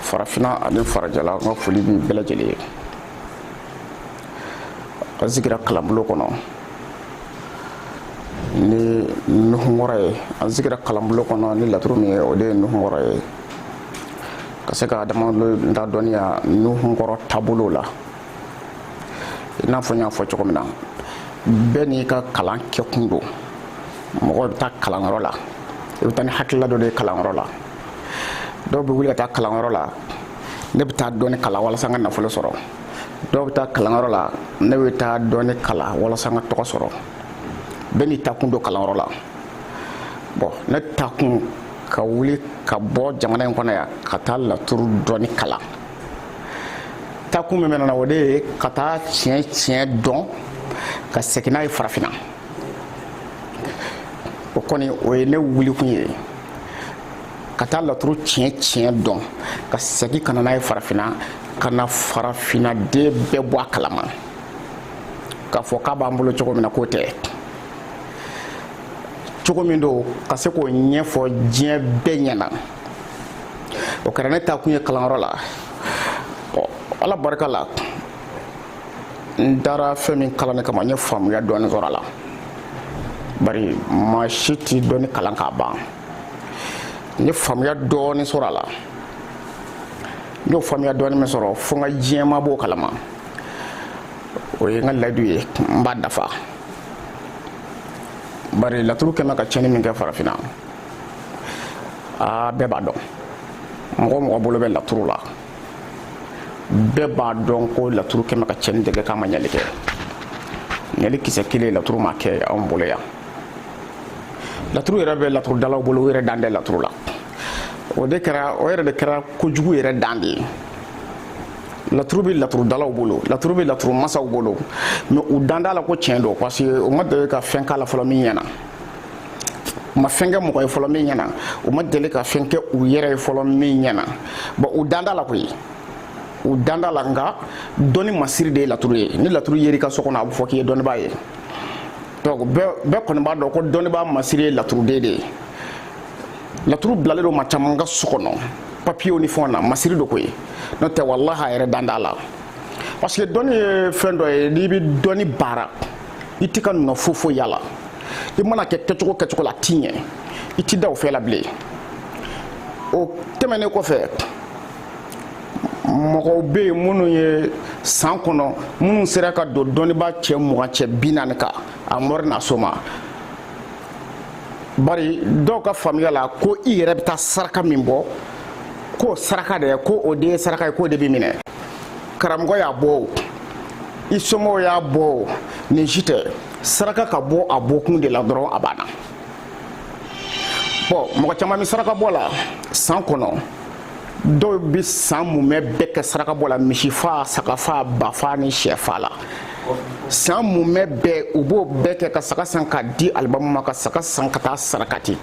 farafinna ani farajɛla n ka foli b'u bɛɛ lajɛlen ye an sigira kalanbolo kɔnɔ ni nuhunkɔrɔ ye an sigira kalanbolo kɔnɔ ni laturu min ye o de ye nuhunkɔrɔ ye ka se ka adamadenw dɔnniya nuhunkɔrɔ taabolo la i n'a fɔ n y'a fɔ cogo min na bɛɛ n'i ka kalan kɛkun don mɔgɔ bɛ taa kalanyɔrɔ la i bɛ taa ni hakilila dɔ de ye kalanyɔrɔ la dɔw bɛ wuli ka taa kalanyɔrɔ la ne bɛ taa dɔnni kalan walasa n ka nafolo sɔrɔ dɔw bɛ taa kalanyɔrɔ la ne bɛ taa dɔnni kalan walasa n ka tɔgɔ sɔrɔ bɛɛ n'i taakun don kalanyɔrɔ la bon ne taakun ka wuli ka bɔ jamana in kɔnɔ yan ka taa laturu dɔnni kalan taakun min bɛ ne na o de ye ka taa tiɲɛ tiɲɛ dɔn ka segin n'a ye farafinna o kɔni o ye ne wulikun ye ka taa laturu tiɲɛ tiɲɛ dɔn ka segin ka na n'a ye farafinna ka na farafinna den bɛɛ bɔ a kalama k'a fɔ k'a b'an bolo cogo min na k'o tɛ cogo min don ka se k'o ɲɛfɔ diɲɛ bɛɛ ɲɛna o kɛra ne taakun ye kalanyɔrɔ la ɔ ala barika la n taara fɛn min kalanni kama n ye faamuya dɔɔni sɔrɔ a la bari maa si tɛ dɔnni kalan k'a ban n ye faamuya dɔɔni sɔrɔ a la n y'o faamuya dɔɔni min sɔrɔ fo n ka diɲɛmaa b'o kalama o ye n ka layidu ye n b'a dafa bari laturu kɛmɛ ka tiɲɛni min kɛ farafinna aa bɛɛ b'a dɔn mɔgɔ mɔgɔ bolo bɛ laturu la bɛɛ b'a dɔn ko laturu kɛmɛ ka tiɲɛni de kɛ k'a ma ɲali kɛ ɲali kisɛ kelen laturu ma kɛ anw bolo yan laturu yɛrɛ bɛ laturudalaw bolo u yɛrɛ dan tɛ laturu la o de kɛra o yɛrɛ de kɛra kojugu yɛrɛ dan de ye laturu bɛ laturudalaw bolo laturu bɛ laturu masaw bolo mais u dan t'a la ko tiɲɛ don parce que u ma deli ka fɛn k'a la fɔlɔ min ɲɛna u ma fɛn kɛ mɔgɔ ye fɔlɔ min ɲɛna u ma deli ka fɛn kɛ u yɛrɛ ye fɔlɔ min ɲɛna bon u dan t'a la koyi u dan t'a la nka dɔnni masiri de ye laturu ye ni laturu yer'i ka so kɔnɔ a bɛ fɔ k'i ye dɔnnibaa ye donc bɛɛ kɔni b'a dɔn ko dɔnnibaa masiri ye laturuden de ye laturu bilalen don maa caman ka so kɔnɔ papiyew ni fɛnw na masiri don koyi n'o tɛ walahi a yɛrɛ dan t'a la parce que dɔnni ye fɛn dɔ ye n'i bɛ dɔnni baara i tɛ ka nɔ fo foyi y'a la i mana kɛ kɛcogo kɛcogo la ti ɲɛ i ti da o fɛn la bilen o tɛmɛnen kɔfɛ mɔgɔw bɛ yen minnu ye san kɔnɔ minnu sera ka don dɔnnibaa cɛ mugan cɛ bi naani kan a mɔri n'a soma bari dɔw ka faamuya la ko i yɛrɛ bɛ taa saraka min bɔ k'o saraka de ye ko o de ye saraka ye k'o de bɛ minɛ karamɔgɔ y'a bɔ o i somɔgɔw y'a bɔ o nin si tɛ saraka ka bɔ a bɔkun de la dɔrɔn a banna bon mɔgɔ caman bɛ saraka bɔ la san kɔnɔ dɔw bɛ san mumɛ bɛɛ kɛ saraka bɔ la misifa sagafa bafa ni sɛfa la san mumɛ bɛɛ u b'o bɛɛ kɛ ka saga san ka di alimami ma ka saga san ka taa sarakati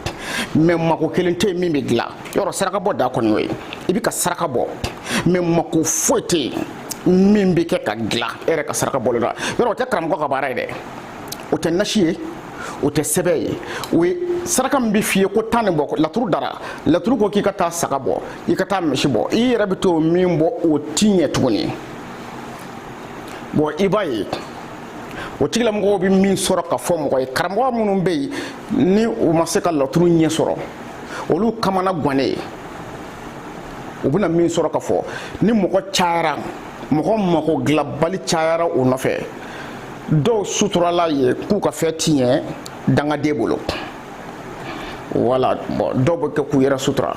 mais mako kelen tɛ yen min bɛ dilan yɔrɔ saraka bɔ da kɔni y'o ye i bɛ ka saraka bɔ mais mako foyi tɛ yen min bɛ kɛ ka dilan e yɛrɛ ka saraka bɔlen la yɔrɔ o tɛ karamɔgɔ ka baara ye dɛ o tɛ nasi ye o tɛ sɛbɛn ye o ye saraka min bɛ f'i ye ko taa nin bɔ laturu dara laturu ko k'i ka taa saga bɔ i ka taa misi bɔ i yɛrɛ bɛ t'o min bɔ o ti ɲɛ tuguni bon i b'a ye o tigilamɔgɔw bɛ min sɔrɔ ka fɔ mɔgɔ ye karamɔgɔ minnu bɛ yen ni u ma se ka laturu ɲɛ sɔrɔ olu kamana gannen u bɛna min sɔrɔ ka fɔ ni mɔgɔ cayara mɔgɔ mako dilanbali cayara u nɔfɛ dɔw suturala ye k'u ka fɛn ti ɲɛ dangaden bolo voilà bon dɔw bɛ kɛ k'u yɛrɛ sutura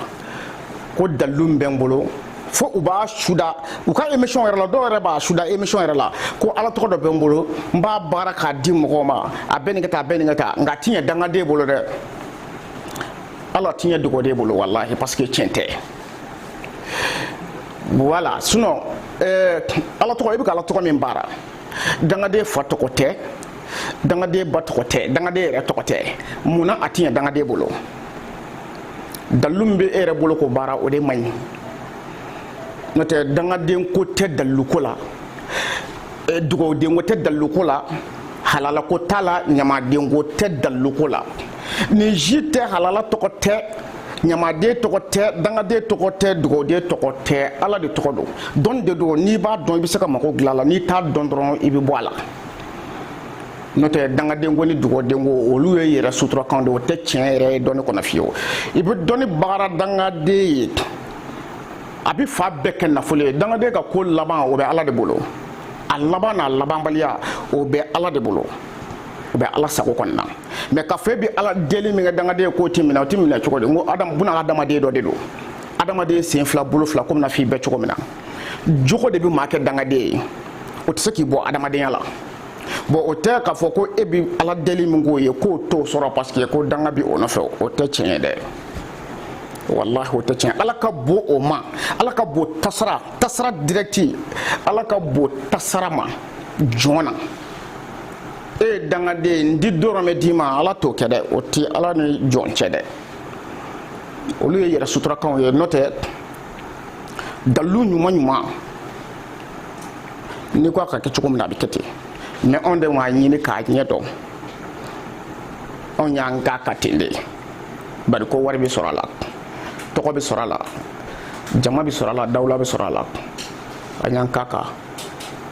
ko dalilu bɛ n bolo fo u b'a suda u ka émission yɛrɛ la dɔw yɛrɛ b'a suda émission yɛrɛ la ko ala tɔgɔ dɔ bɛ n bolo n b'a baara k'a di mɔgɔw ma a bɛ nin kɛ tan a bɛ nin kɛ tan nka a ti ɲɛ dangaden bolo dɛ ala ti ɲɛ dugawuden bolo walahi parce que tiɲɛ tɛ voilà sinon euh, ala tɔgɔ i bɛ ka ala tɔgɔ min baara dangaden fa tɔgɔ tɛ dangaden ba tɔgɔ tɛ dangaden yɛrɛ tɔgɔ tɛ mun na a ti ɲɛ dangaden bolo dalilu min bɛ e yɛrɛ bolo k'o baara o de man ɲi n'o tɛ dangaden ko tɛ dalilu ko la euh, dugawuden ko tɛ dalilu ko la halala ko t'a la ɲamaden ko tɛ dalilu ko la. nin si tɛ halala tɔgɔ tɛ ɲamaden tɔgɔ tɛ dangaden tɔgɔ tɛ dugawuden tɔgɔ tɛ ala de tɔgɔ don dɔnni de don n'i b'a dɔn i bɛ se ka mago dilan a la n'i t'a dɔn dɔrɔn i bɛ bɔ a la n'o tɛ dangadenko ni dugawudenko olu ye yɛrɛ suturakan de o tɛ tiɲɛ yɛrɛ ye dɔnni kɔnɔ fiyewu i bɛ dɔnni bagara dangaden ye a bɛ fan bɛɛ kɛ nafolo ye dangaden ka ko laban o bɛ ala de bolo a laban n'a labanbaliya o bɛ ala de bolo o bɛ ala sago kɔnɔna na mɛ k'a fɔ i bɛ ala deli min kɛ dangaden k'o tɛ minɛ o tɛ minɛ cogo di n ko buna adamaden dɔ de don adamaden sen fila bolo fila komi n'a f'i bɛ cogo min na jogo de bɛ maa kɛ dangaden ye o tɛ se k'i bɔ adamadenya la bɔn o tɛ k'a fɔ ko e bɛ ala deli min k'o ye k'o t'o sɔrɔ paseke ko danga bɛ o nɔfɛ o tɛ tiɲɛ ye dɛ walahi o tɛ tiɲɛ ala ka bon o ma ala ka bon tasara tasara dirɛkiti ala ka bon tasara ma jɔn na e dangaden n ti dɔrɔmɛ d'i ma ala t'o kɛ dɛ o ti ala ni jɔn cɛ dɛ olu ye yɛrɛ suturakanw ye n'o tɛ dalilu ɲuman ɲuman n'i ko a ka kɛ cogo min na a bɛ kɛ ten mɛ anw de m'a ɲini k'a ɲɛ dɔn anw y'an k'a kan ten de bari ko wari bɛ sɔrɔ a la tɔgɔ bɛ sɔrɔ a la jama bɛ sɔrɔ a la dawula bɛ sɔrɔ a la an y'an k'a kan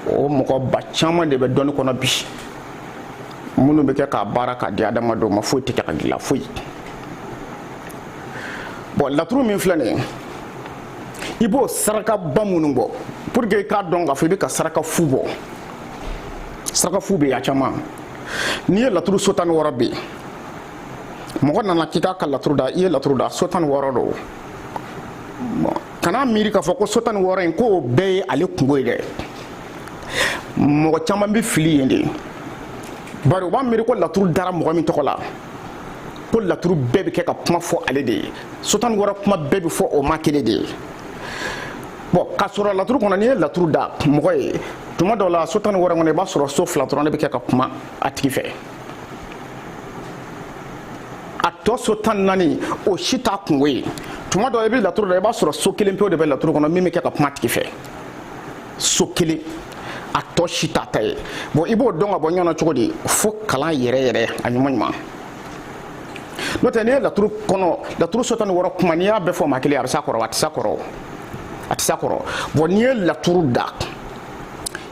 o mɔgɔba caman de bɛ dɔnni kɔnɔ bi minnu bɛ kɛ k'a baara k'a di adamadenw ma foyi tɛ kɛ ka dilan foyi bɔn laturu min filɛ nin ye i b'o sarakaba minnu bɔ pour que i k'a dɔn k'a fɔ i bɛ ka saraka fu bɔ saraka fu bɛ yen a caman n'i ye laturu so tan ni wɔɔrɔ bɛ yen mɔgɔ nana k'i k'a ka laturu da i ye laturu da so tan ni wɔɔrɔ don kana miiri k'a fɔ ko so tan ni wɔɔrɔ in k'o bɛɛ ye ale kungo ye dɛ mɔgɔ caman bɛ fili yen de bari u b'a miiri ko laturu dara mɔgɔ min tɔgɔ la ko laturu bɛɛ bɛ kɛ ka kuma fɔ ale de ye so tan ni wɔɔrɔ kuma bɛɛ bɛ fɔ o maa kelen de ye bɔn k'a sɔrɔ laturu kɔnɔ n'i ye laturu da mɔgɔ ye tuma dɔw la so tan ni wɔɔrɔ kɔnɔ i b'a sɔrɔ so fila dɔrɔn de bɛ kɛ ka kuma a tigi fɛ a tɔ so tan ni naani o si t'a kungo ye tuma dɔ i bɛ laturu da i b'a sɔrɔ so kelen pewu de bɛ laturu kɔnɔ min bɛ kɛ ka kuma a tigi fɛ so kelen a tɔ si t'a ta ye bɔn i b'o dɔn ka bɔ ɲɔgɔn na cogo di fo kalan yɛrɛ yɛrɛ a ɲuman ɲuman n'o tɛ n'i ye laturu kɔnɔ laturu so tan ni wɔɔrɔ kuma n'i y'a bɛɛ fɔ maa kelen a bɛ s'a kɔrɔ a tɛ s'a kɔrɔ a tɛ s'a kɔrɔ bɔn n'i ye laturu da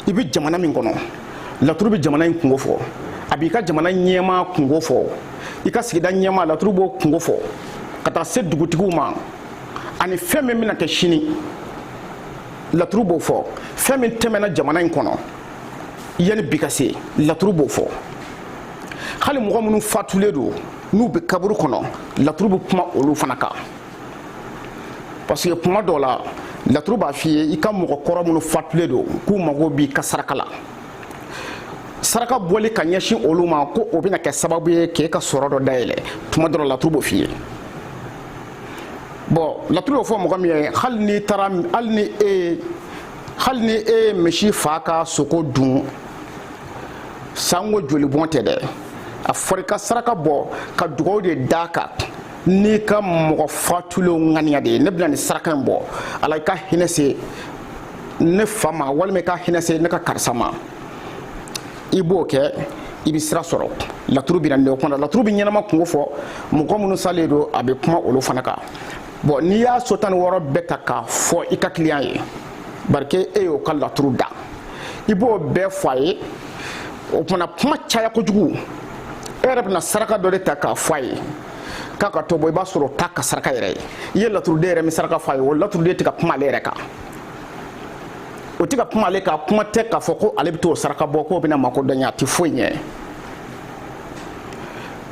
i bɛ jamana min kɔnɔ laturu bɛ jamana in kungo fɔ a b'i ka jamana ɲɛmaa kungo fɔ i ka sigida ɲɛmaa laturu b'o kungo fɔ ka taa se dugutigiw ma ani fɛn min bɛna kɛ sini laturu b'o fɔ fɛn min tɛmɛna jamana in kɔnɔ yanni bi ka se laturu b'o fɔ hali mɔgɔ minnu fatulen don n'u bɛ kaburu kɔnɔ laturu bɛ kuma olu fana kan parce que tuma dɔ la laturu b'a f'i ye i ka mɔgɔ kɔrɔ minnu fatulen don k'u mago b'i ka saraka la saraka bɔli ka ɲɛsin olu ma ko o bɛna kɛ sababu ye k'e ka sɔrɔ dɔ dayɛlɛ tuma dɔ la laturu b'o f'i ye bɔn laturu y'o fɔ mɔgɔ min ye hali n'i taara hali ni e hali ni e ye misi faa ka sogo dun sango jolibɔn tɛ dɛ a fɔra i ka saraka bɔ ka dugawu de d'a kan n'i ka mɔgɔ fatulen ŋaniya de ye ne bɛna nin saraka in bɔ ala i ka hinɛ se ne fa ma walima i ka hinɛ se ne ka karisa ma i b'o kɛ i bɛ sira sɔrɔ laturu bɛ na nin o kɔnɔ laturu bɛ ɲɛnama kunko fɔ mɔgɔ minnu salen don a bɛ kuma olu fana kan bɔn n'i y'a so tan ni wɔɔrɔ bɛɛ ta k'a fɔ i ka kiliyan ye parce que e y'o ka laturu da i b'o bɛɛ fɔ a ye o tuma na kuma caya kojugu e yɛrɛ bɛna saraka dɔ de ta k'a fɔ a ye k'a ka t'o bɔ i b'a sɔrɔ o t'a ka saraka yɛrɛ ye i ye laturuden yɛrɛ min saraka fɔ a ye o laturuden tɛ ka kuma ale yɛrɛ kan o tɛ ka kuma ale kan kuma tɛ k'a fɔ ko ale bɛ t'o saraka bɔ k'o bɛn'a mako dɔn a tɛ foyi ɲɛ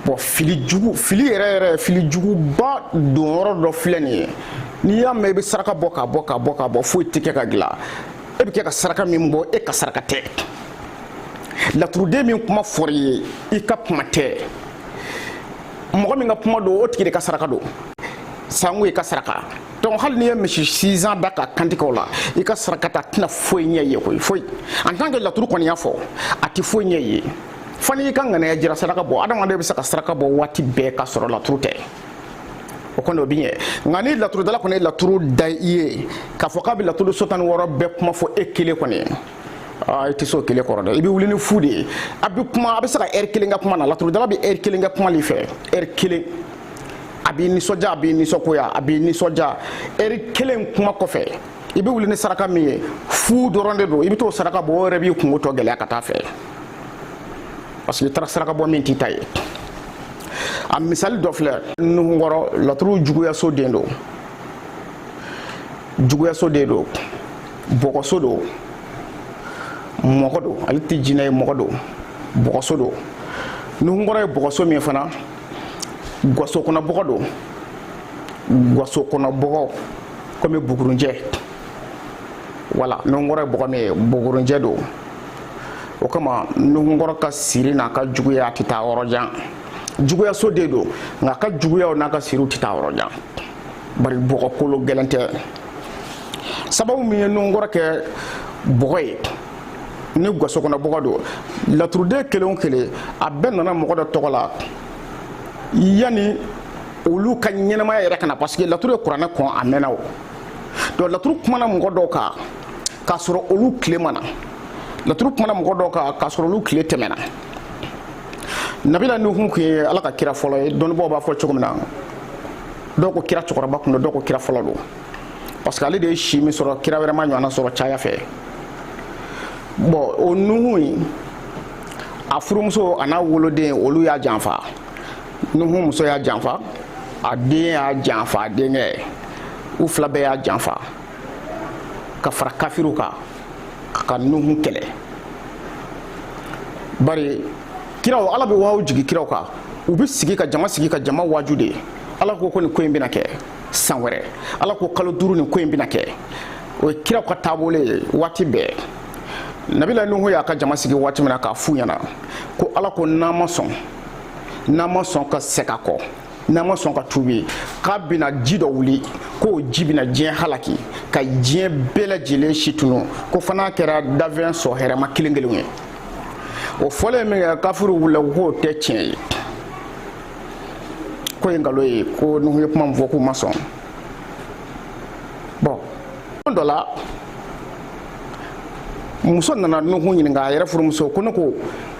bɔn fili jugu fili yɛrɛ yɛrɛ fili juguba don yɔrɔ dɔ filɛ nin ye n'i y'a mɛn i bɛ saraka bɔ k'a bɔ k'a bɔ k'a bɔ foyi tɛ kɛ ka dilan e bɛ kɛ ka saraka min bɔ e ka saraka tɛ laturuden min kuma fɔra i ye i ka kuma tɛ mɔgɔ min ka kuma don o tigi de ka saraka don sango i ka saraka donc hali n'i ye misi six ans da k'a kantigɛ o la i ka saraka ta tɛna foyi ɲɛ i ye koyi foyi en tant que laturu kɔni y'a fɔ a tɛ foyi ɲɛ i ye fo n'i ka ŋanaya jira saraka bɔ adamaden bɛ se ka saraka bɔ waati bɛɛ ka sɔrɔ laturu tɛ o kɔni o bɛ ɲɛ nka ni laturudala kɔni ye laturu da i ye k'a fɔ k'a bɛ laturu so tan ni wɔɔrɔ bɛɛ kuma fɔ e kelen kɔni i tɛ se o kelen kɔrɔ dɛ i bɛ wuli ni fu de ye a bɛ kuma a bɛ se ka ɛri kelen kɛ kuma na laturudala bɛ ɛri kelen kɛ kuma de fɛ ɛri kelen a b'i nisɔndiya a b'i nisɔngoya a b'i nisɔndiya ɛri kelen kuma kɔfɛ i bɛ wuli ni saraka min ye fu dɔrɔn de don i bɛ t'o saraka bɔ o yɛrɛ b'i kunko tɔ gɛlɛya ka taa fɛ parce que i taara saraka bɔ min t'i ta ye a misali dɔ filɛ nuhunkɔrɔ laturu juguyaso den don juguyaso den don bɔgɔso don mɔgɔ don ale tɛ jinɛ ye mɔgɔ don bɔgɔso don nuhunkɔrɔ ye bɔgɔso min fana gwaso kɔnɔ bɔgɔ don gwaso kɔnɔ bɔgɔ komi bugurunjɛ wala nuhunkɔrɔ ye bɔgɔ min ye bugurunjɛ don o kama nuhunkɔrɔ ka siri n'a ka juguya tɛ taa yɔrɔ jan juguyaso de don nka a ka juguyaw n'a ka siriw tɛ taa yɔrɔ jan bari bɔgɔ kolo gɛlɛn tɛ sababu min ye nuhunkɔrɔ kɛ bɔgɔ ye ni gaso kɔnɔ bɔgɔ don laturuden kelen o kelen a bɛɛ nana mɔgɔ dɔ tɔgɔ la yanni olu ka ɲɛnamaya yɛrɛ ka na parce que laturu ye kuranɛ kɔn a mɛnna o donc laturu kumana mɔgɔ dɔw kan k'a sɔrɔ olu tile ma na laturu kumana mɔgɔ dɔw kan k'a sɔrɔ olu tile tɛmɛna nabila nuhun kun ye ala ka kira fɔlɔ ye dɔnnibaaw b'a fɔ cogo min na dɔw ko kira cɛkɔrɔba kun don dɔw ko kira fɔlɔ don parce que ale de ye si min sɔrɔ kira wɛrɛ ma ɲɔgɔnna sɔrɔ caya fɛ bon o nuhun in a furumuso a n'a woloden olu y'a janfa nuhun muso y'a janfa a den y'a janfa a denkɛ u fila bɛɛ y'a janfa ka fara kafiriw kan ka nuhu kɛlɛ bari kiraw ala bɛ wahyu jigi kiraw kan u bɛ sigi ka jama sigi ka jama waju de ala ko ko nin ko in bɛna kɛ san wɛrɛ ala ko kalo duuru nin ko in bɛna kɛ o ye kiraw ka taabolo ye waati bɛɛ nabila nuhu y'a ka jama sigi waati min na k'a f'u ɲɛna ko ala ko n'an ma sɔn n'an ma sɔn ka segin kɔ n'an ma sɔn ka tuubi k'a bɛna ji dɔ wuli k'o ji bɛna diɲɛ halaki ka diɲɛ bɛɛ lajɛlen si tunu ko fo n'a kɛra dafɛn sɔn hɛrɛma kelen kelenw ye o fɔlen minkɛ kafiriw wulila k'o tɛ tiɲɛ ye k'o ye nkalon ye ko nuhu ye kuma min fɔ k'u ma sɔn bon don dɔ la muso nana nuhun ɲininka a yɛrɛ furumuso ko ne ko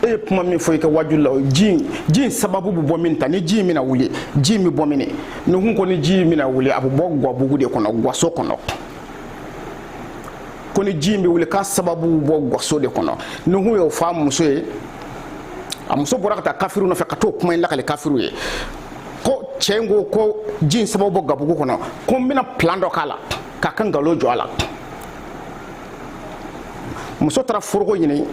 e ye kuma min fɔ i ka waju la ji in ji in sababu bɛ bɔ min ta ni ji in bɛna wuli ji in bɛ bɔ min nuhun ko ni ji in bɛna wuli a bɛ bɔ gwabugu de kɔnɔ gwaso kɔnɔ ko ni ji in bɛ wuli k'a sababu bɛ bɔ gwaso de kɔnɔ nuhun y'o fɔ a muso ye a muso bɔra ka taa kafiriw nɔfɛ ka t'o kuma in lakale kafiriw ye ko cɛ in ko ko ji in sababu bɔ gabugu kɔnɔ ko n bɛna plan dɔ k'a la k'a ka nkalon jɔ a la muso taara foroko ɲini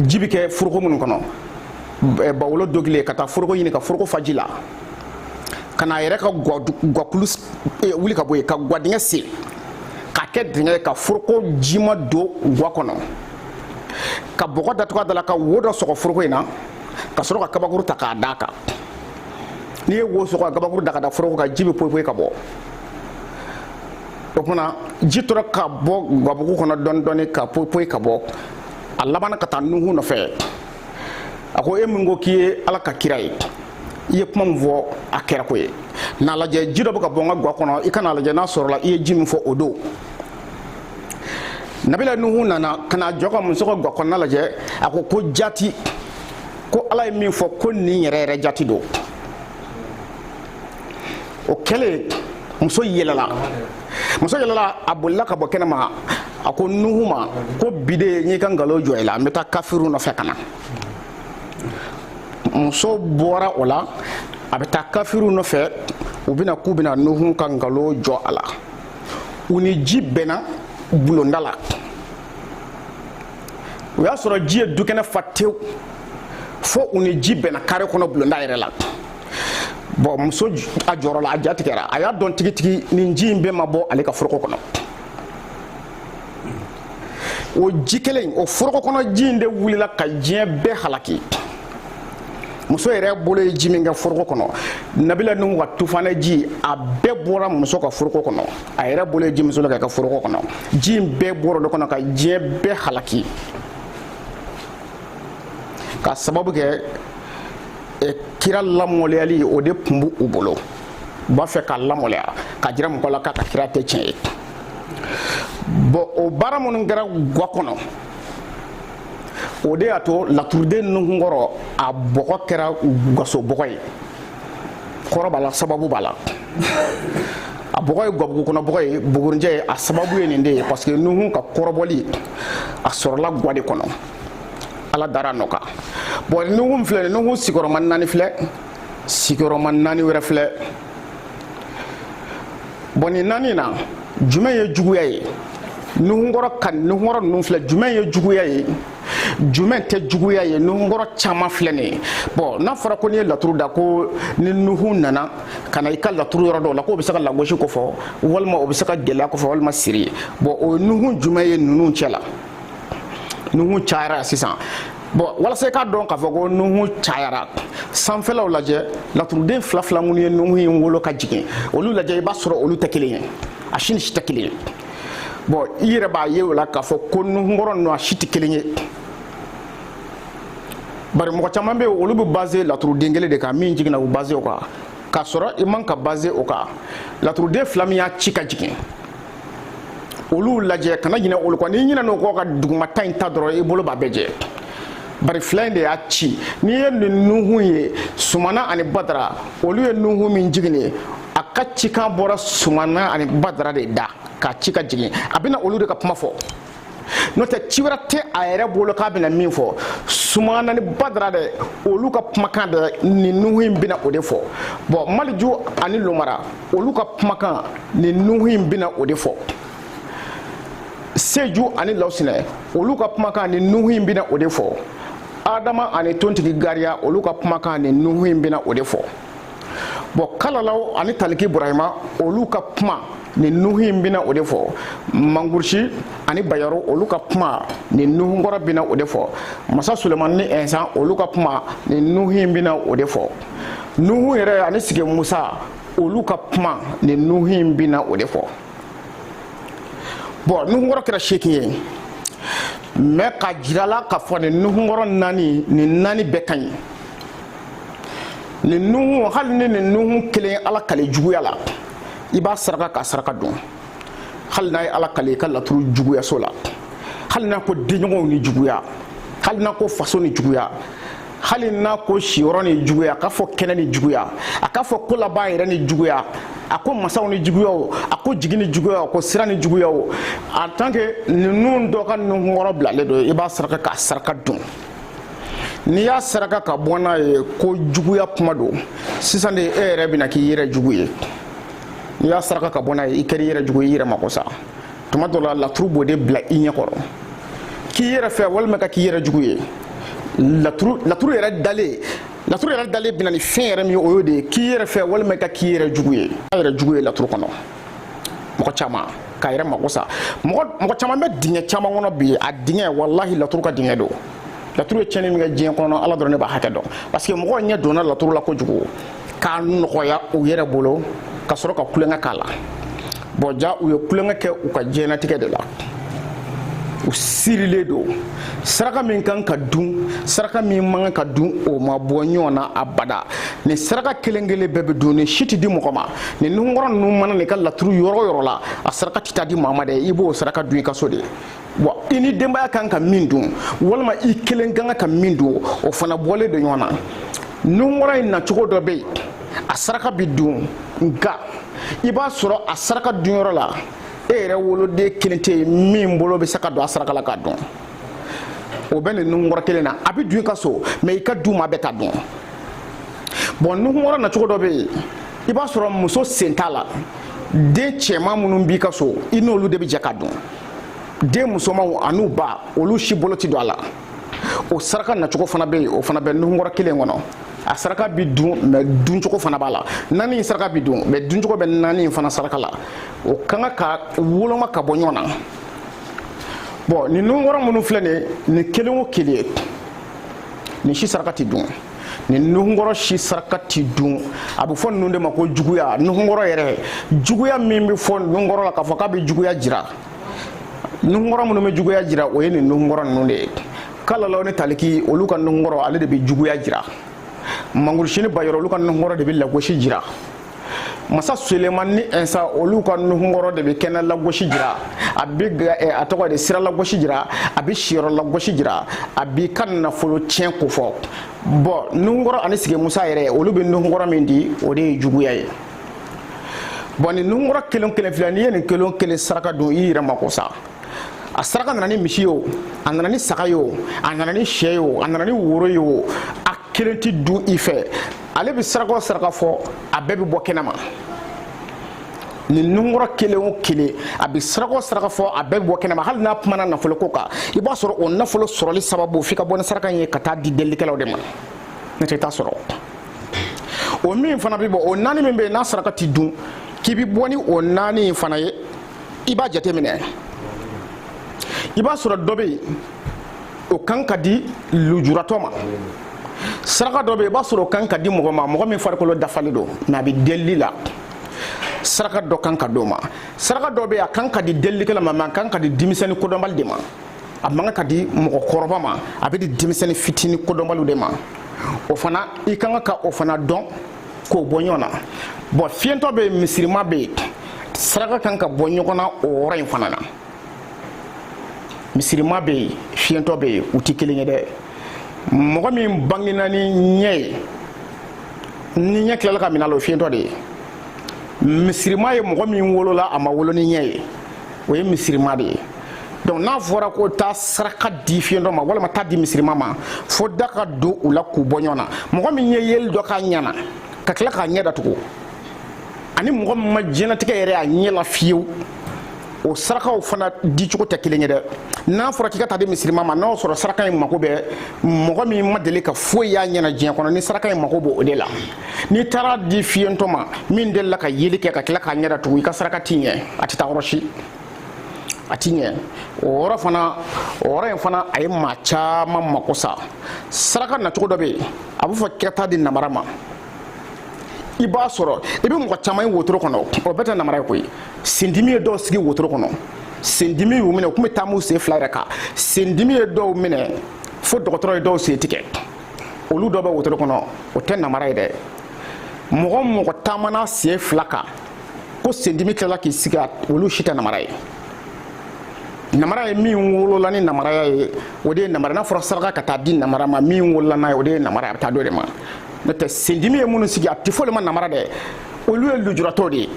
ji bɛ kɛ foroko minnu kɔnɔ bawolo dogilen ka taa foroko ɲini ka foroko fa ji la ka na a yɛrɛ ka gakulu eh, wuli ka bɔ yen ka gwadingɛ sen k'a kɛ dingɛ ye ka foroko jima don gwa kɔnɔ ka bɔgɔ datugu a da la ka wo dɔ sɔgɔ foroko in na ka sɔrɔ ka kabakuru ta k'a d'a kan n'i ye wo sɔgɔ ka kabakuru da ka da foroko kan ji bɛ poyi poyi ka bɔ o kuma na ji tora ka bɔ gabugu kɔnɔ dɔɔni dɔɔni ka poyi poyi ka bɔ a labanna ka taa nuhu nɔfɛ a ko e min ko k'i ye ala ka kira ye i ye kuma min fɔ a kɛra ko ye n'a lajɛ ji dɔ bɛ ka bɔ n ka gwa kɔnɔ i ka n'a lajɛ n'a sɔrɔla i ye ji min fɔ o don nabila nuhu nana ka n'a jɔ ka muso ka gwa kɔnɔna lajɛ a ko ko jati ko ala ye min fɔ ko nin yɛrɛ yɛrɛ jati don o kɛlen muso yɛlɛla muso yɛlɛla a bolila ka bɔ kɛnɛma a ko nuhu ma ko bi de n y'i ka nkalon jɔ i la n bɛ taa kafiriw nɔfɛ ka na muso bɔra o la a bɛ taa kafiriw nɔfɛ u bɛna k'u bɛna nuhu ka nkalon jɔ a la u ni ji bɛnna bulonda la o y'a sɔrɔ ji ye dukɛnɛ fa tewu fo u ni ji bɛnna kare kɔnɔ bulonda yɛrɛ la bɔn muso a jɔrɔla a ja tigɛra a y'a dɔn tigitigi nin ji in bɛɛ ma bɔ ale ka foroko kɔnɔ o ji kelen o foroko kɔnɔ ji in de wulila ka diɲɛ bɛɛ halaki muso yɛrɛ bolo ye ji min kɛ foroko kɔnɔ nabila nuhu ka tufanɛ ji a bɛɛ bɔra muso ka foroko kɔnɔ a yɛrɛ bolo ye ji min soli ka kɛ foroko kɔnɔ ji in bɛɛ bɔra o de kɔnɔ ka diɲɛ bɛɛ halaki ka sababu kɛ e kira lamaloyali o de tun b'u bolo u b'a fɛ k'a lamaloya k'a jira mɔgɔ la k'a ka kira tɛ tiɲɛ ye bɔn o baara minnu kɛra gwa kɔnɔ o de y'a to laturuden nuhunkɔrɔ a bɔgɔ kɛra gaso bɔgɔ ye kɔrɔ b'a la sababu b'a la a bɔgɔ ye gabugu kɔnɔ bɔgɔ ye bugurinjɛ ye a sababu ye nin de ye parce que nuhun ka kɔrɔbɔli a sɔrɔla gwa de kɔnɔ ala dara nɔ kan bɔn nuhu filɛ nuhu sigiyɔrɔma naani filɛ sigiyɔrɔma naani wɛrɛ filɛ bɔn nin naani na jumɛn ye juguya ye nuhunkɔrɔ ka nuhunkɔrɔ ninnu filɛ jumɛn ye juguya ye jumɛn tɛ juguya ye nuhunkɔrɔ caman filɛ nin ye bɔn n'a fɔra ko n'i ye laturu da ko ni nuhu nana ka na i ka laturu yɔrɔ dɔw la k'o bɛ se ka lagosi ko fɔ walima o bɛ se ka gɛlɛya ko fɔ walima siri bɔn o nuhu jumɛn ye ninnu cɛ la nuhu cayara sisan bɔn walasa i k'a dɔn k'a fɔ ko nuhu cayara sanfɛlaw lajɛ laturuden fila fila minnu ye nuhu in wolo ka jigin olu lajɛ i b'a sɔrɔ olu tɛ kelen ye a si ni si tɛ kelen ye bɔn i yɛrɛ b'a ye o la k'a fɔ ko nuhunkɔrɔ ninnu a si tɛ kelen ye bari mɔgɔ caman bɛ yen olu bɛ baze laturuden kelen de kan min jiginna u baze o kan k'a sɔrɔ i man ka baze o kan laturuden fila min y'a ci ka jigin olu lajɛ kana ɲinɛ olu kɔ n'i ɲinɛna o kɔ ka dugumata in ta dɔrɔn i bolo b'a bɛɛ jɛ bari fila in de y'a ci n'i ye nin nuhun ye sumana ani badara olu ye nuhun min jigin a ka cikan bɔra sumana ani badara de da k'a ci ka jigin a bɛna olu de ka kuma fɔ n'o tɛ ci wɛrɛ tɛ a yɛrɛ bolo k'a bɛna min fɔ sumana ni badara dɛ olu ka kumakan dɛ nin nuhu in bɛna o de fɔ bɔn maliju ani lomara olu ka kumakan nin nuhu in bɛna o de fɔ seju ani lawusinɛ olu ka kumakan nin nuhu in bɛna o de fɔ adama ani tontigi gariya olu ka kumakan nin nuhu in bɛna o de fɔ bɔn kalalaw ani taliki burahima olu ka kuma nin nuhu in bɛna o de fɔ mangurusi ani bayaro olu ka kuma nin nuhu kɔrɔ bɛna o de fɔ masa sulemani ni ɛnsan olu ka kuma nin nuhu in bɛna o de fɔ nuhu yɛrɛ ani sigi musa olu ka kuma nin nuhu in bɛna o de fɔ bɔn nuhu kɔrɔ kɛra seegin ye mɛ ka jirala ka fɔ nin nuhu kɔrɔ naani nin naani bɛɛ ka ɲi nin nuhu hali ni nin nuhu kelen ala kale juguya la i b'a saraka k'a saraka dun hali n'a ye ala kale i ka laturu juguyaso la hali n'a ko denɲɔgɔnw ni juguya hali n'a ko faso ni juguya hali n'a ko siyɔrɔ ni juguya k'a fɔ kɛnɛ ni juguya a k'a fɔ ko laban yɛrɛ ni juguya a ko masaw ni juguya o a ko jigi ni juguya o ko sira ni juguya o en tant que ninnu dɔ ka nunkɔrɔ bilalen don i b'a saraka k'a saraka dun n'i y'a saraka ka bɔ n'a ye ko juguya kuma don sisan de e yɛrɛ bɛna k'i yɛrɛ jugu ye n'i y'a saraka ka bɔ n'a ye i kɛra i yɛrɛ jugu ye i yɛrɛ mako sa tuma dɔ la laturu b'o de bila i ɲɛ kɔrɔ k'i yɛrɛ fɛ walima ka k'i yɛrɛ jugu ye laturu laturu yɛrɛ dalen laturu yɛrɛ dalen bɛna ni fɛn yɛrɛ min ye o y'o de ye k'i yɛrɛ fɛ walima ka k'i yɛrɛ jugu ye a yɛrɛ jugu ye laturu kɔnɔ mɔgɔ caman k'a yɛrɛ mako sa mɔgɔ caman bɛ dingɛ caman kɔnɔ bi a dingɛ walahi laturu ka dingɛ don laturu ye tiɲɛni min kɛ diɲɛ kɔnɔ ala dɔrɔn ne b'a hakɛ dɔn parce que mɔgɔw ɲɛ donna laturu la kojugu k'a nɔgɔya u yɛrɛ bolo ka sɔrɔ ka tulonkɛ k'a la bɔn ja u ye tulonkɛ kɛ u ka diɲɛnatigɛ de la u sirilen don saraka min kan ka dun saraka min man ka dun o ma bɔ ɲɔgɔn na abada nin saraka kelen kelen bɛɛ bɛ dun nin si tɛ di mɔgɔ ma nin nunkɔrɔ ninnu mana n'i ka laturu yɔrɔ o yɔrɔ la a saraka tɛ taa di maa ma dɛ i b'o saraka dun i ka so de wa i ni denbaya kan ka min dun walima i kelen kan ka min dun o fana bɔlen don ɲɔgɔn na nunkɔrɔ in nacogo dɔ bɛ yen a saraka bɛ dun nka i b'a sɔrɔ a saraka dunyɔrɔ la e yɛrɛ woloden kelen tɛ yen min bolo bɛ se ka don a saraka la k'a dun o bɛ nin nunkɔrɔ kelen na a bɛ dun i ka so mɛ i ka du maa bɛɛ t'a dun bɔn nunkɔrɔ nacogo dɔ bɛ yen i b'a sɔrɔ muso sen t'a la den cɛman minnu b'i ka so i n'olu de bɛ jɛ k'a dun den musomanw an'u ba olu si bolo tɛ don a la o saraka nacogo fana bɛ yen o fana bɛ nuhunkɔrɔ kelen kɔnɔ a saraka bi dun mɛ duncogo fana b'a la naani in saraka bi dun mɛ duncogo bɛ naani in fana saraka la o ka kan ka woloma ka bɔ ɲɔgɔn na bɔn nin nuhunkɔrɔ minnu filɛ nin nin kelen o kelen nin si saraka ti dun nin nuhunkɔrɔ si saraka ti dun a bɛ fɔ ninnu de ma ko juguya nuhunkɔrɔ yɛrɛ juguya min bɛ fɔ nuhunkɔrɔ la k'a fɔ k'a bɛ juguya jira nuhunkɔrɔ minnu bɛ juguya jira o ye nin nuhunkɔrɔ ninnu de ye kalalaw ni taliki olu ka nuhunkɔrɔ ale de bɛ juguya jira mangusi ni bayɔrɔ olu ka nuhunkɔrɔ de bɛ lagosi jira masa suleman ni ɛnsa olu ka nuhunkɔrɔ de bɛ kɛnɛ lagosi jira a bɛ eh, a tɔgɔ de sira lagosi jira a bɛ siyɔrɔ lagosi jira a b'i ka nafolo tiɲɛ ko fɔ bɔn nuhunkɔrɔ ani sigi musa yɛrɛ olu bɛ nuhunkɔrɔ min di o de ye juguya ye bɔn nin nuhunkɔrɔ kelen kelen filɛ n'i ye nin kelen kelen saraka dɔn i yɛrɛ mako sa a saraka nana ni misi ye o a nana ni saga ye o a nana ni sɛ ye o a nana ni woro ye o a kelen ti dun i fɛ ale bɛ saraka o saraka fɔ a bɛɛ bɛ bɔ kɛnɛ ma nin nuhunkɔrɔ kelen o kelen a bɛ saraka o saraka fɔ a bɛɛ bɛ bɔ kɛnɛ ma hali n'a kumana nafolo ko kan i b'a sɔrɔ o nafolo sɔrɔli sababu f'i ka bɔ ni saraka in ye ka taa di delikɛlaw de ma n'o tɛ i t'a sɔrɔ. o min fana bɛ bɔ o naani min bɛ yen n'a saraka ti dun k'i bɛ bɔ ni o naani in fana ye i b'a jateminɛ i b'a sɔrɔ dɔ bɛ yen o kan ka di lujuratɔ ma saraka dɔ bɛ yen i b'a sɔrɔ o kan ka di mɔgɔ ma mɔgɔ min farikolo dafalen don mɛ a bɛ delili la saraka dɔ kan ka d'o ma saraka dɔ bɛ yen a kan ka di delilikɛla ma mɛ a kan ka di denmisɛnnin kodɔnbali de ma a man ka di mɔgɔkɔrɔba ma a bɛ di denmisɛnnin fitinin kodɔnbaliw de ma o fana i kan ka o fana dɔn k'o bɔ ɲɔgɔn na bɔn fiyentɔ bɛ yen misirima bɛ yen saraka kan ka bɔ ɲɔgɔn na o yɔrɔ in fana na misirima bɛ yen fiyentɔ bɛ yen u tɛ kelen ye dɛ mɔgɔ min bangena ni ɲɛ ye ni ɲɛ tilala ka minɛ a la o fiyentɔ de ye misirima ye mɔgɔ min wolola a ma wolo ni ɲɛ ye o ye misirima de ye donc n'a fɔra ko taa saraka di fiyentɔ ma walima taa di misirima ma fo dan ka don u la k'u bɔ ɲɔgɔn na mɔgɔ min ye yeli dɔ k'a ɲɛ na ka tila k'a ɲɛ datugu ani mɔgɔ min ma diɲɛlatigɛ yɛrɛ a ɲɛ la fiyewu o sarakaw fana dicogo tɛ kelen ye dɛ n'a fɔra k'i ka taa di misirima ma n'a sɔrɔ saraka in mako bɛ mɔgɔ min ma deli ka foyi y'a ɲɛ na diɲɛ kɔnɔ ni saraka in mako b'o de la n'i taara di fiyentɔ ma min delila ka yeli kɛ ka tila k'a ɲɛ datugu i ka saraka ti ɲɛ a tɛ taa yɔrɔ si a ti ɲɛ o yɔrɔ in fana a ye maa caman mako sa saraka nacogo dɔ bɛ yen a bɛ fɔ ko taa di namara ma i b'a sɔrɔ i bɛ mɔgɔ caman ye wotoro kɔnɔ o bɛɛ tɛ namara ye koyi sendimi ye dɔw sigi wotoro kɔnɔ sendimi y'u minɛ u tun bɛ taam'u sen fila yɛrɛ kan sendimi ye dɔw minɛ fo dɔgɔtɔrɔ ye dɔw sen tigɛ olu dɔ bɛ wotoro kɔnɔ o tɛ namara ye dɛ mɔgɔ o mɔgɔ taamana sen fila kan ko sendimi tilala k'i sigi olu si tɛ namara ye namara ye min wolola ni namaraya ye o de ye namara n'a fɔra saraka ka taa di namara ma min wolola n'a ye o de ye namara a bɛ taa d'o de ma n'o tɛ sendimi ye minnu sigi a tɛ fɔ olu ma namara dɛ olu ye lujuratɔ de ye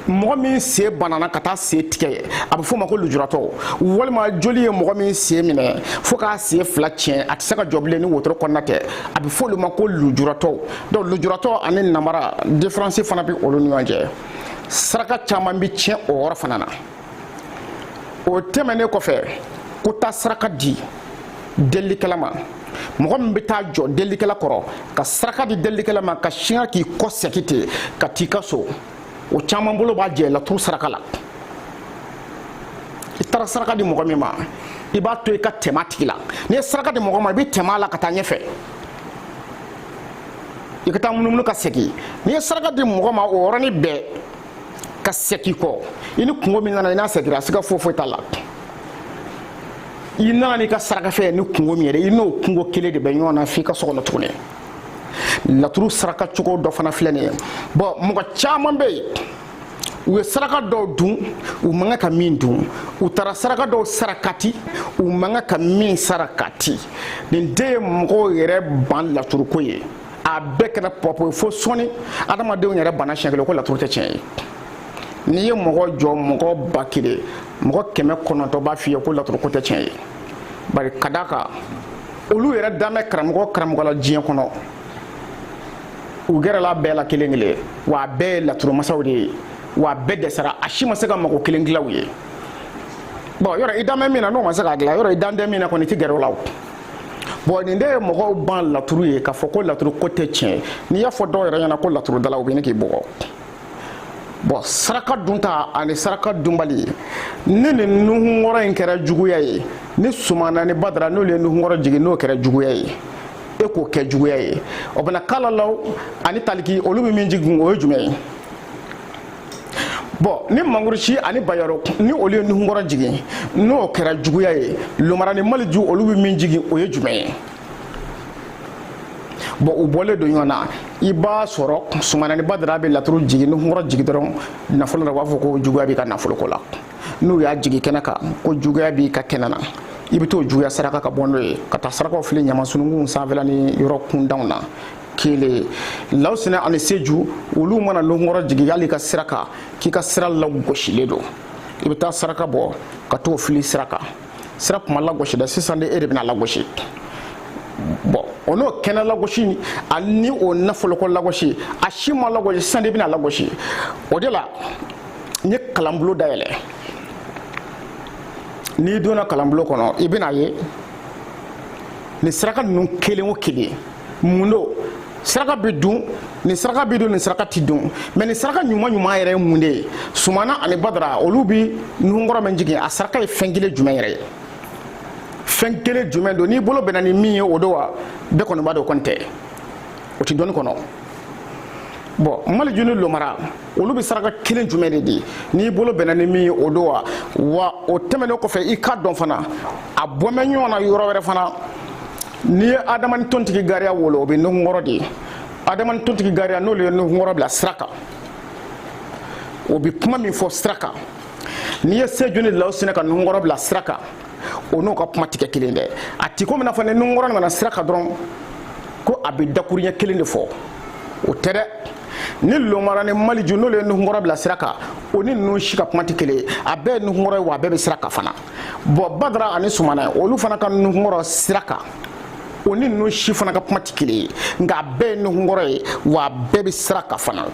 mɔgɔ min sen banana ka taa sen tigɛ a bɛ f'o ma ko lujuratɔ walima joli ye mɔgɔ min sen minɛ fo k'a sen fila tiɲɛ a tɛ se ka jɔ bilen ni wotoro kɔnɔna tɛ a bɛ f'olu ma ko lujuratɔ donc lujuratɔ ani nabara diferansi fana bɛ olu ni ɲɔgɔn cɛ saraka caman bɛ tiɲɛ o yɔrɔ fana na o tɛmɛnen kɔfɛ ko taa saraka di delikɛla ma mɔgɔ min bɛ taa jɔ delikɛla kɔrɔ ka saraka di delikɛla ma ka sin k'i kɔ sɛki ten ka t'i ka so o caman bolo b'a jɛ laturu saraka la i taara saraka di mɔgɔ min ma i b'a to i ka tɛmɛ a tigi la n'i ye saraka di mɔgɔ ma i bɛ tɛmɛ a la ka taa ɲɛfɛ i ka taa munumunu ka segin n'i ye saraka di mɔgɔ ma o yɔrɔnin bɛɛ ka sɛki kɔ i ni kunko min nana i n'a sɛkira siga foyi foyi t'a la i nana n'i ka sarakafɛn ni kunko min yɛrɛ i n'o kunko kelen de bɛ ɲɔgɔn na f'i ka so kɔnɔ tuguni laturu saraka cogo dɔ fana filɛ nin ye bɔn mɔgɔ caman bɛ yen u ye saraka dɔw dun u man kan ka min dun u taara saraka dɔw sarakati u man kan ka min sarakati nin de ye mɔgɔw yɛrɛ ban laturuko ye a bɛɛ kɛra pɔpɔ ye fo sɔni adamadenw yɛrɛ bana siɲɛ kelen ko laturu tɛ tiɲɛ ye n'i ye mɔgɔ jɔ mɔgɔ ba kelen mɔgɔ kɛmɛ kɔnɔntɔn b'a f'i ye ko laturu ko tɛ tiɲɛ ye bari ka d'a kan olu yɛrɛ dan bɛ karamɔgɔ karamɔgɔ la diɲɛ kɔnɔ u gɛrɛla bɛɛ la kelen kelen wa a bɛɛ ye laturumasaw de ye wa a bɛɛ dɛsɛra a si ma se ka mago kelen dilan u ye bɔn yɔrɔ i dan bɛ min na n'o ma se k'a dilan yɔrɔ i dan tɛ min na kɔni i tɛ gɛrɛ o la o bɔn nin de ye mɔgɔw ban laturu ye k'a fɔ ko laturu ko tɛ tiɲɛ n'i y'a fɔ dɔw yɛrɛ ɲɛna ko laturudala u bɛ ɲini k'i bugɔ bɔn saraka dunta ani saraka dunbali ne ni nuhunkɔrɔ in kɛra juguya ye ni sumana ni badara n'olu ye nuhunkɔrɔ jigin n'o kɛra juguya ye e k'o kɛ juguya ye o bɛna kalalaw ani taliki olu bɛ min jigin o ye jumɛn ye bɔn ni mangurusi ani bayaru ni olu ye nuhunkɔrɔ jigin n'o kɛra juguya ye lomara ni maliju olu bɛ min jigin o ye jumɛn ye bɔn u bɔlen don ɲɔgɔn na i b'a sɔrɔ sumana ni badara bɛ laturu jigin nuhunkɔrɔ jigin dɔrɔn nafolo la u b'a fɔ ko juguya b'i ka nafolo ko la n'u y'a jigin kɛnɛ kan ko juguya b'i ka kɛnɛ na i bɛ t'o juguya saraka ka bɔ n'o ye ka taa sarakaw fili ɲamansununkun sanfɛla ni yɔrɔ kuntanw na kelen lawusina ani seju olu mana nuhunkɔrɔ jigin hali i ka sira kan k'i ka sira lagosilen don i bɛ taa saraka bɔ ka t'o fili sira kan sira kun ma lagosi dɛ sisan de e de bɛna lagosi bɔn o n'o kɛnɛ lagosi ani o nafoloko lagosi a si ma lagosi sisan de bɛna lagosi o de la n ye kalanbulon dayɛlɛ n'i donna kalanbulon kɔnɔ i bɛna ye nin saraka ninnu kelen o kelen mun don saraka bɛ dun nin saraka bɛ dun nin saraka tɛ dun mɛ nin saraka ɲuman ɲuman yɛrɛ ye mun de ye sumana ani badara olu bɛ nuhunkɔrɔ min jigin a saraka ye fɛn kelen jumɛn yɛrɛ ye fɛn kelen jumɛn don n'i bolo bɛnna ni min ye o don wa bɛɛ kɔni b'a dɔn o kɔni tɛ o tɛ dɔnni kɔnɔ bɔn maliju ni lomara olu bɛ saraka kelen jumɛn de di n'i bolo bɛnna ni min ye o don wa wa o tɛmɛnen kɔfɛ i k'a dɔn fana a bɔlen bɛ ɲɔgɔn na yɔrɔ wɛrɛ fana n'i ye adama ni tontigi gariya wolo o bɛ nuhunkɔrɔ de di adama ni tontigi gariya n'olu ye nuhunkɔrɔ bila sira kan o bɛ kuma min fɔ sira kan n'i ye seju ni lawsinɛ ka nuhunkɔrɔ bila sira kan o n'o ka kuma tɛ kɛ kelen dɛ a ti komi n'a fɔ ni nuhunkɔrɔ nana sira kan dɔrɔn ko a bɛ dakuruɲɛ kelen de fɔ o tɛ dɛ ni lomara ni maliju n'olu ye nuhunkɔrɔ bila sira kan o ni ninnu si ka kuma tɛ kelen ye a bɛɛ ye nuhunkɔrɔ ye wa a bɛɛ bɛ sira kan fana bɔn badara ani sumana olu fana ka nuhunkɔrɔ sira kan o ni ninnu si fana ka kuma tɛ kelen ye nka a bɛɛ ye nuhunkɔrɔ ye wa a bɛɛ bɛ sira kan fana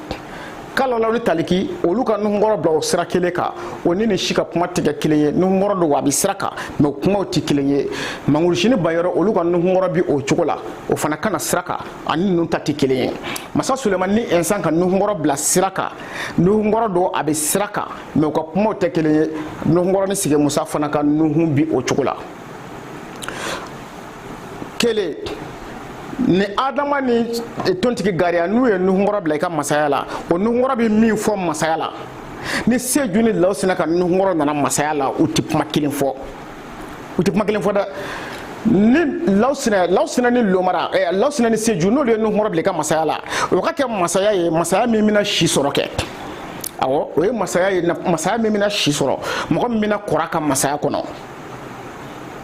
kalalaw ni taliki olu ka nuhunkɔrɔ bila o sira kelen kan o ni nin si ka kuma tɛ kɛ kelen ye nuhunkɔrɔ don wa a bɛ sira kan mɛ o kumaw tɛ kelen ye mangurusi ni bayɔrɔ olu ka nuhunkɔrɔ bi o cogo la o fana ka na sira kan a ni ninnu ta tɛ kelen ye masa sulemani ni ɛnsan ka nuhunkɔrɔ bila sira kan nuhunkɔrɔ don a bɛ sira kan mɛ u ka kumaw tɛ kelen ye nuhunkɔrɔ ni sigi musa fana ka nuhun bi o cogo la kelen ni adama ni tontigi gariya n'u ye nuhunkɔrɔ bila i ka masaya la o nuhunkɔrɔ bɛ min fɔ masaya la ni seju ni lawsina ka nuhunkɔrɔ nana masaya la u tɛ kuma kelen fɔ u tɛ kuma kelen fɔ dɛ ni lawsinɛ lawsinɛ ni lomara ɛ eh, lawsinɛ ni seju n'olu ye nuhunkɔrɔ bila i ka masaya la o ka kɛ masaya ye masaya min bɛna si sɔrɔ kɛ awɔ o ye masaya ye masaya min bɛna si sɔrɔ mɔgɔ min bɛna kɔrɔ a ka masaya kɔnɔ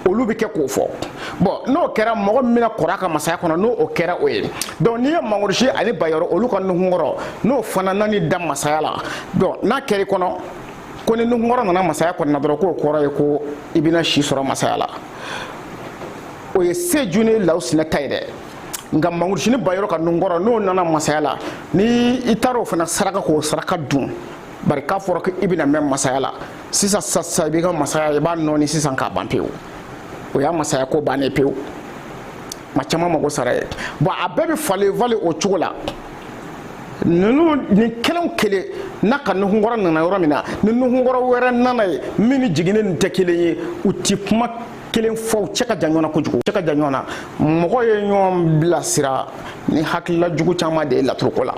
olu bɛ kɛ k'o fɔ bɔn n'o kɛra mɔgɔ min bɛna kɔrɔ a ka masaya kɔnɔ n'o o kɛra o ye dɔnku n'i ye mangurusi ani bayɔrɔ olu ka nuhunkɔrɔ n'o fana nani da masaya la dɔnku n'a kɛra i kɔnɔ ko ni nuhunkɔrɔ nana masaya kɔnɔna dɔrɔn k'o kɔrɔ ye ko i bɛna si sɔrɔ masaya la o ye seju ni lawsinɛ ta ye dɛ nka mangurusi ni bayɔrɔ ka nuhunkɔrɔ n'o nana masaya la ni i taara o fana saraka k'o saraka dun bari k'a fɔra ko i bɛna mɛn masaya la sisan sisan i b'i ka masaya i b'a nɔɔni sisan k'a ban pewu o y'a masaya ko bannen pewu maa caman mago sara yen bɔn a bɛɛ bɛ falen falen o cogo la ninnu nin kelen kelen n'a ka nuhunkɔrɔ nana yɔrɔ min na ni nuhunkɔrɔ wɛrɛ nana yen min ni jiginnen nin tɛ kelen ye u ti kuma kelen fɔ u cɛ ka jan ɲɔgɔn na kojugu cɛ ka jan ɲɔgɔn na mɔgɔ ye ɲɔgɔn bilasira ni hakilila jugu caman de ye laturuko la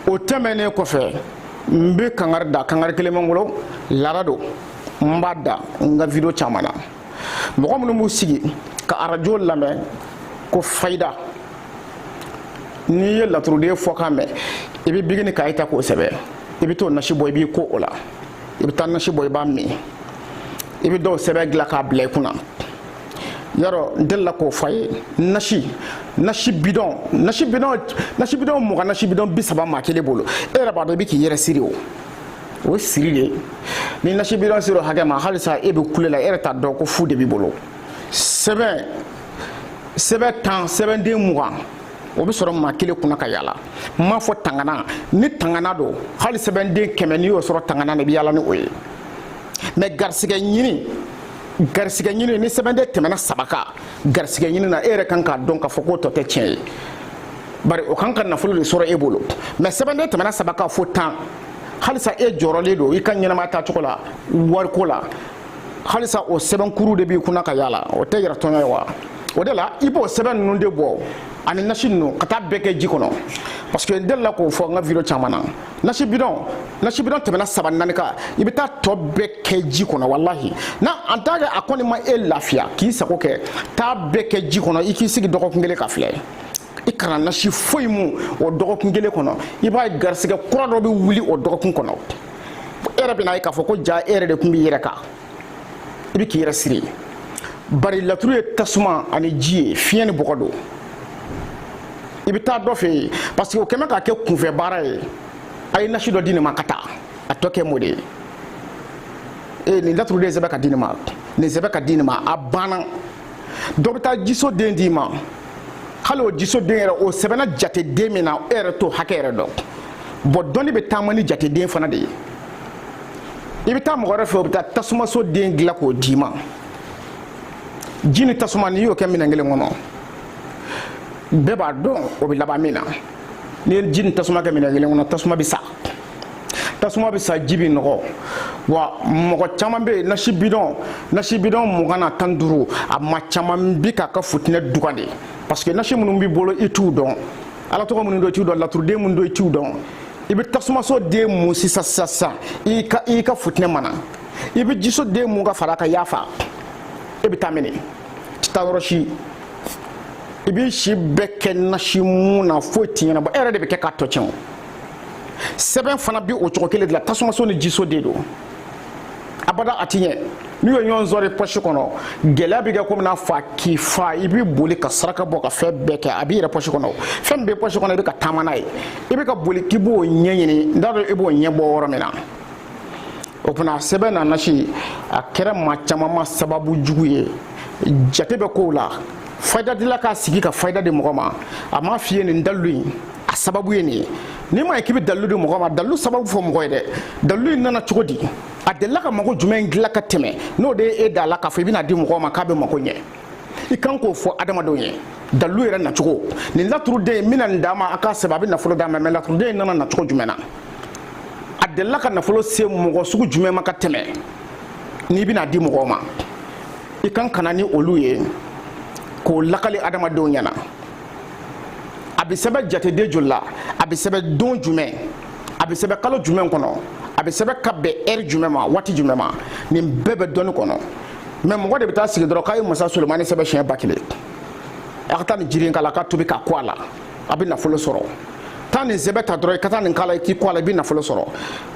o tɛmɛnen kɔfɛ n bɛ kangari da kangari kelen bɛ n bolo laada don n b'a da n ka video caman na mɔgɔ minnu b'u sigi ka arajo lamɛn ko fayida n'i ye laturuden fɔkan mɛn i bɛ biki ni kaye ta k'o sɛbɛn i bɛ t'o nasi bɔ i b'i ko o la i bɛ taa nasi bɔ i b'a min i bɛ dɔw sɛbɛn dilan k'a bila i kunna yarɔ n delila k'o fɔ a ye nasi nasi bidɔn nasi bidɔn nasi bidɔn mugan nasi bidɔn bi saba maa kelen bolo e yɛrɛ b'a dɔn i bɛ k'i yɛrɛ siri o o siri de ni nasi bidɔn sera o hakɛ ma halisa e bɛ kule la e yɛrɛ t'a dɔn ko fu de b'i bolo sɛbɛn sɛbɛn tan sɛbɛnden mugan o bɛ sɔrɔ maa kelen kunna ka yaala n m'a fɔ tangana ni tangana don hali sɛbɛnden kɛmɛ n'i y'o sɔrɔ tangana na i bɛ yaala ni o ye mais garisigɛ ɲini garisigɛ ɲini ni sɛbɛnden tɛmɛna saba kan garisigɛ ɲini na e yɛrɛ kan k'a dɔn k'a fɔ k'o tɔ tɛ tiɲɛ ye bari o kan ka nafolo de sɔrɔ e bolo mais sɛbɛnden tɛmɛna saba kan fo tan halisa e jɔrɔlen don i ka ɲɛnamaya taacogo la wariko la halisa o sɛbɛnkuru de b'i kunna ka yala o tɛ yɛrɛ tɔɲɔ ye wa o de la i b'o sɛbɛn ninnu de bɔ ani nasi ninnu ka taa bɛɛ kɛ ji kɔnɔ parce que n delila k'o fɔ n ka video caman na nasi bidɔn nasi bidɔn tɛmɛna saba naani kan i bɛ taa tɔ bɛɛ kɛ ji kɔnɔ walahi na en tant que a kɔni ma e lafiya k'i sago kɛ taa bɛɛ kɛ ji kɔnɔ i k'i sigi dɔgɔkun kelen ka filɛ i kana nasi foyi mun o dɔgɔkun kelen kɔnɔ i b'a ye garisigɛ kura dɔ bɛ wuli o dɔgɔkun kɔnɔ e yɛrɛ bɛn'a ye k'a fɔ ko jaa e yɛrɛ de tun b'i yɛrɛ kan i bɛ k'i yɛrɛ siri bari laturu ye tasuma ani ji ye fiɲɛ ni bɔgɔ don i bɛ taa dɔ fɛ yen parce que o kɛmɛ k'a kɛ kunfɛ baara ye a ye nasi dɔ di nin ma ka taa a tɔ kɛ m'o de ye ee nin laturu de sɛbɛn ka di nin ma nin sɛbɛn ka di nin ma a banna dɔ bɛ taa jiso den d'i ma hali o jisoden yɛrɛ o sɛbɛnna jateden min na e yɛrɛ t'o hakɛ yɛrɛ dɔn bon dɔnni bɛ taama ni jateden fana de ye i bɛ taa mɔgɔ wɛrɛ fɛ o bɛ taa tasumaso den dilan k'o d'i ma ji ni tasuma n'i y'o kɛ minɛn kelen kɔnɔ bɛɛ b'a dɔn o bɛ laban min na n'i ye ji ni tasuma kɛ minɛn kelen kɔnɔ tasuma bɛ sa tasuma bɛ sa ji bɛ nɔgɔ wa mɔgɔ caman bɛ yen nasi bidɔn nasi bidɔn mugan na tan ni duuru a maa caman bi k'a ka futinɛ dugan de parce que nasi minnu b'i bolo i t'u dɔn ala tɔgɔ minnu don i t'u dɔn laturuden minnu don i t'u dɔn i bɛ tasumaso den mun sisan sisan sisan i ka i ka futinɛ mana i bɛ jiso den mun ka fara a kan i y'a faga e bɛ taa min e ti taa yɔrɔ si i b'i si bɛɛ kɛ nasi mun na foyi ti ɲɛnabɔ e yɛrɛ de bɛ kɛ k'a tɔ tiɲɛ o sɛbɛn fana bɛ o cogo kelen de la tasumaso ni jiso de don abada a ti ɲɛ n'u ye ɲɔgɔn sɔrɔ pɔsi kɔnɔ gɛlɛya bɛ kɛ komi n'a fɔ a k'i fa i bɛ boli ka saraka bɔ ka fɛn bɛɛ kɛ a b'i yɛrɛ pɔsi kɔnɔ fɛn min bɛ pɔsi kɔnɔ i bɛ ka taama n'a ye i bɛ ka boli k'i b'o ɲɛɲini n t'a dɔn i b'o ɲɛ bɔ yɔrɔ min na o tuma sɛbɛn ni nasi a kɛra maa caman ma sababu jugu ye jate bɛ kow la fayida dila k'a sigi ka fayida di mɔgɔ ma a m'a f'i ye nin dalilu in a sababu ye nin ye n'i ma ye k'i bɛ dalilu di mɔgɔ ma dalilu sababu fɔ mɔgɔ ye dɛ dalilu in nana cogo di a delila ka mago jumɛn dilan ka tɛmɛ n'o de ye e da la k'a fɔ i bɛn'a di mɔgɔ ma k'a bɛ mago ɲɛ i kan k'o fɔ adamadenw ye dalilu yɛrɛ nacogo nin laturuden n bɛna nin d'a ma a k'a sɛbɛn a bɛ nafolo d'a ma mɛ laturuden in nana nacogo jumɛn na a delila ka nafolo se mɔgɔ sugu jumɛn ma ka tɛmɛ n'i bɛn'a di mɔgɔw ma i kan ka na ni olu ye k'o lakali adamadenw ɲɛna a bɛ sɛbɛn jateden joli la a bɛ sɛbɛn don jumɛn a bɛ sɛbɛn kalo jumɛn kɔnɔ a bɛ sɛbɛn ka bɛn ɛri jumɛn ma waati jumɛn ma nin bɛɛ bɛ dɔnni kɔnɔ mɛ mɔgɔ de bɛ taa sigi dɔrɔn k'a ye masa solomani sɛbɛn siɲɛ ba kelen a ka taa nin jiri in k'a la a k'a tobi k'a ko a la a bɛ nafolo sɔrɔ taa nin sɛbɛn ta dɔrɔn i ka taa nin k'a la i k'i ko a la i bɛ nafolo sɔrɔ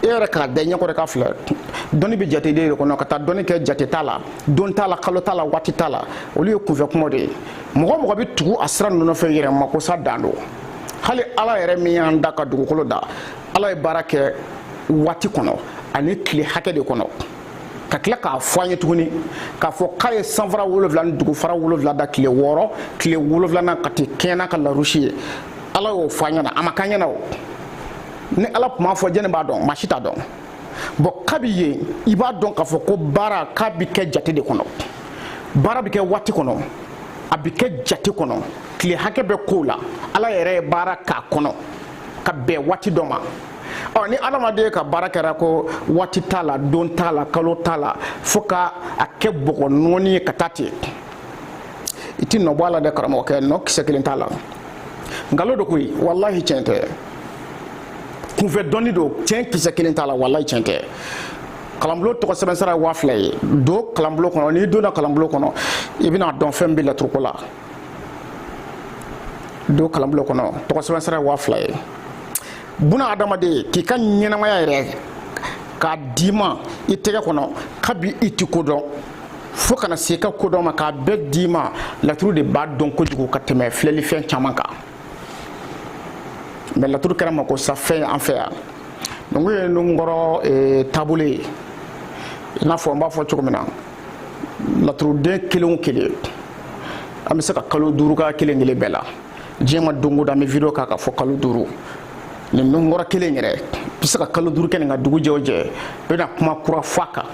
e yɛrɛ k'a da i ɲɛ kɔrɔ k'a filɛ dɔnni bɛ jate de kɔnɔ ka taa dɔnni kɛ jate t'a la don t'a la kalo t'a la waati t'a la olu ye kunfɛ kumaw de ye mɔgɔ o mɔgɔ bɛ tugu a sira ninnu fɛ yɛrɛmakosa dan don hali ala yɛrɛ min y'an da ka dugukolo da ala ye baara kɛ waati kɔnɔ ani tile hakɛ de kɔnɔ ka tila k'a fɔ an ye tuguni k'a fɔ k'a ye sanfara wolonwula ni dugufara wolonwula da tile wɔɔrɔ tile wolonwulanan ka t'i kɛɲɛ n'a ka larusi ye ala y'o fɔ an ɲɛna a ma k'an ɲɛna o ni ala tun m'a fɔ jɔni b'a dɔn maa si t'a dɔn bɔn kabi yen i b'a dɔn k'a fɔ ko baara k'a bi kɛ jate de kɔnɔ baara bi kɛ waati kɔnɔ a bi kɛ jate kɔnɔ tile hakɛ bɛ kow la ala yɛrɛ ye baara k'a kɔnɔ ka bɛn waati dɔ ma ɔ ni adamaden ka baara kɛra ko waati t'a la don t'a la kalo t'a la fo ka a kɛ bɔgɔ nɔɔni ye ka taa ten i ti nɔ bɔ a la dɛ karamɔgɔkɛ nɔ kisɛ kelen t'a la nkalon don koyi walahi tiɲɛ tɛ kunfɛ dɔnni don tiɲɛ kisɛ kelen t'a la walayi tiɲɛ tɛ kalanbulon tɔgɔ sɛbɛn sara ye waa fila ye don kalanbulon kɔnɔ n'i donna kalanbulon kɔnɔ i bɛn'a dɔn fɛn bɛ laturuko la don kalanbulon kɔnɔ tɔgɔ sɛbɛn sara ye waa fila ye buna adamaden k'i ka ɲɛnamaya yɛrɛ k'a d'i ma i tɛgɛ kɔnɔ kabi i ti ko dɔn fo ka na se i ka kodɔn ma k'a bɛɛ d'i ma laturu de b'a dɔn kojugu ka tɛmɛ filɛlifɛn caman kan mɛ laturu kɛra makosafɛn an fɛ yan nungu ye nunkɔrɔ eh, taabolo ye i n'a fɔ n b'a fɔ cogo min na laturuden kelen o kelen an bɛ se ka kalo duuru k'a kelen kelen bɛɛ la diɲɛ ma don o don an bɛ video k'a kan fo kalo duuru nin nunkɔrɔ kelen yɛrɛ bɛ se ka kalo duuru kɛ nin kan dugu jɛ o jɛ i bɛna kuma kura fɔ a kan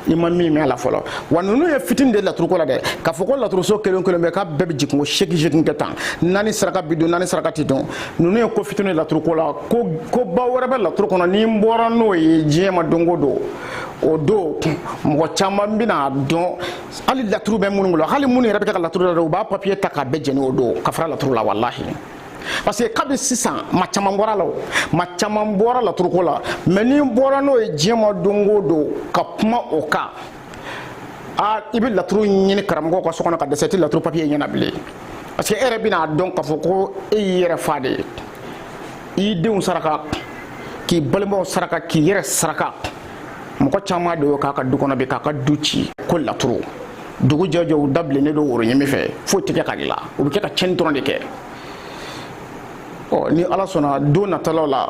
i ma min mɛn a la fɔlɔ wa ninnu ye fitini de laturuko la dɛ k'a fɔ ko laturuso kelen kelen bɛɛ k'a bɛɛ bɛ jigin ko seegin seegin kɛ tan naani saraka bi dɔn naani saraka ti dɔn ninnu ye ko fitini laturuko la ko koba wɛrɛ bɛ laturu kɔnɔ ni n bɔra n'o ye diɲɛ ma don o don o don mɔgɔ caman bɛn'a dɔn hali laturu bɛ minnu bolo hali minnu yɛrɛ bɛ ka laturu la u b'a papiye ta k'a bɛɛ jeni o don ka fara laturu la walahi parce que kabi sisan maa caman bɔra a la o maa caman bɔra laturuko la mɛ ni n bɔra n'o ye diɲɛ ma don o don ka kuma o kan a i bɛ laturu ɲini karamɔgɔ ka so kɔnɔ ka dɛsɛ i tɛ laturu papiye ɲɛ na bilen parce que e yɛrɛ bɛn'a dɔn k'a fɔ ko e y'i yɛrɛ faa de i ye i denw saraka k'i balimaw saraka k'i yɛrɛ saraka mɔgɔ caman de y'o k'a ka du kɔnɔ bi k'a ka du ci ko laturu dugu jɛ o jɛ u da bilennen don woro ɲimi fɛ foyi tɛ kɛ ka dilan u bɛ kɛ ka tiɲɛni dɔrɔn de kɛ ɔ ni ala sɔnna don natalaw la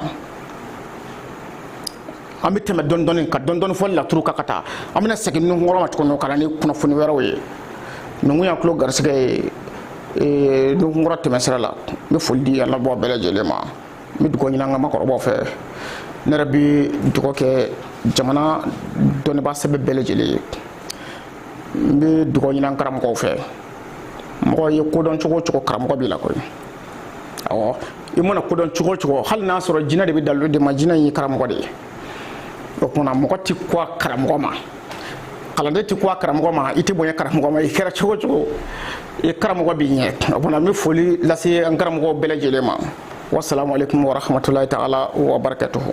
an bɛ tɛmɛ dɔɔni dɔɔni ka dɔɔni dɔɔni fɔ laturu kan ka taa an bɛna segin nunkɔrɔ ma tuguni ka na ni kunnafoni wɛrɛw ye ninnu y'an tulo garisigɛ ye nunkɔrɔ tɛmɛsira la n bɛ foli di an labɔ bɛɛ lajɛlen ma n bɛ dugawu ɲini an ka maakɔrɔbaw fɛ ne yɛrɛ bɛ dugawu kɛ jamana dɔnnibaa sɛbɛ bɛɛ lajɛlen ye n bɛ dugawu ɲini an karamɔgɔw fɛ mɔgɔ ye ko dɔn cogo o cogo karamɔgɔ b'i la koyi awɔ i mana ko dɔn cogo o cogo hali n'a sɔrɔ jinɛ de bɛ dalilu d'i ma jinɛ in ye karamɔgɔ de ye o tuma na mɔgɔ tɛ kɔ a karamɔgɔ ma kalanden tɛ kɔ a karamɔgɔ ma i tɛ bonya karamɔgɔ ma i kɛra cogo o cogo i karamɔgɔ b'i ɲɛ o tuma na n bɛ foli lase an karamɔgɔw bɛɛ lajɛlen ma wasalaamu aleykum warahmatulahi taala wa barakatuhu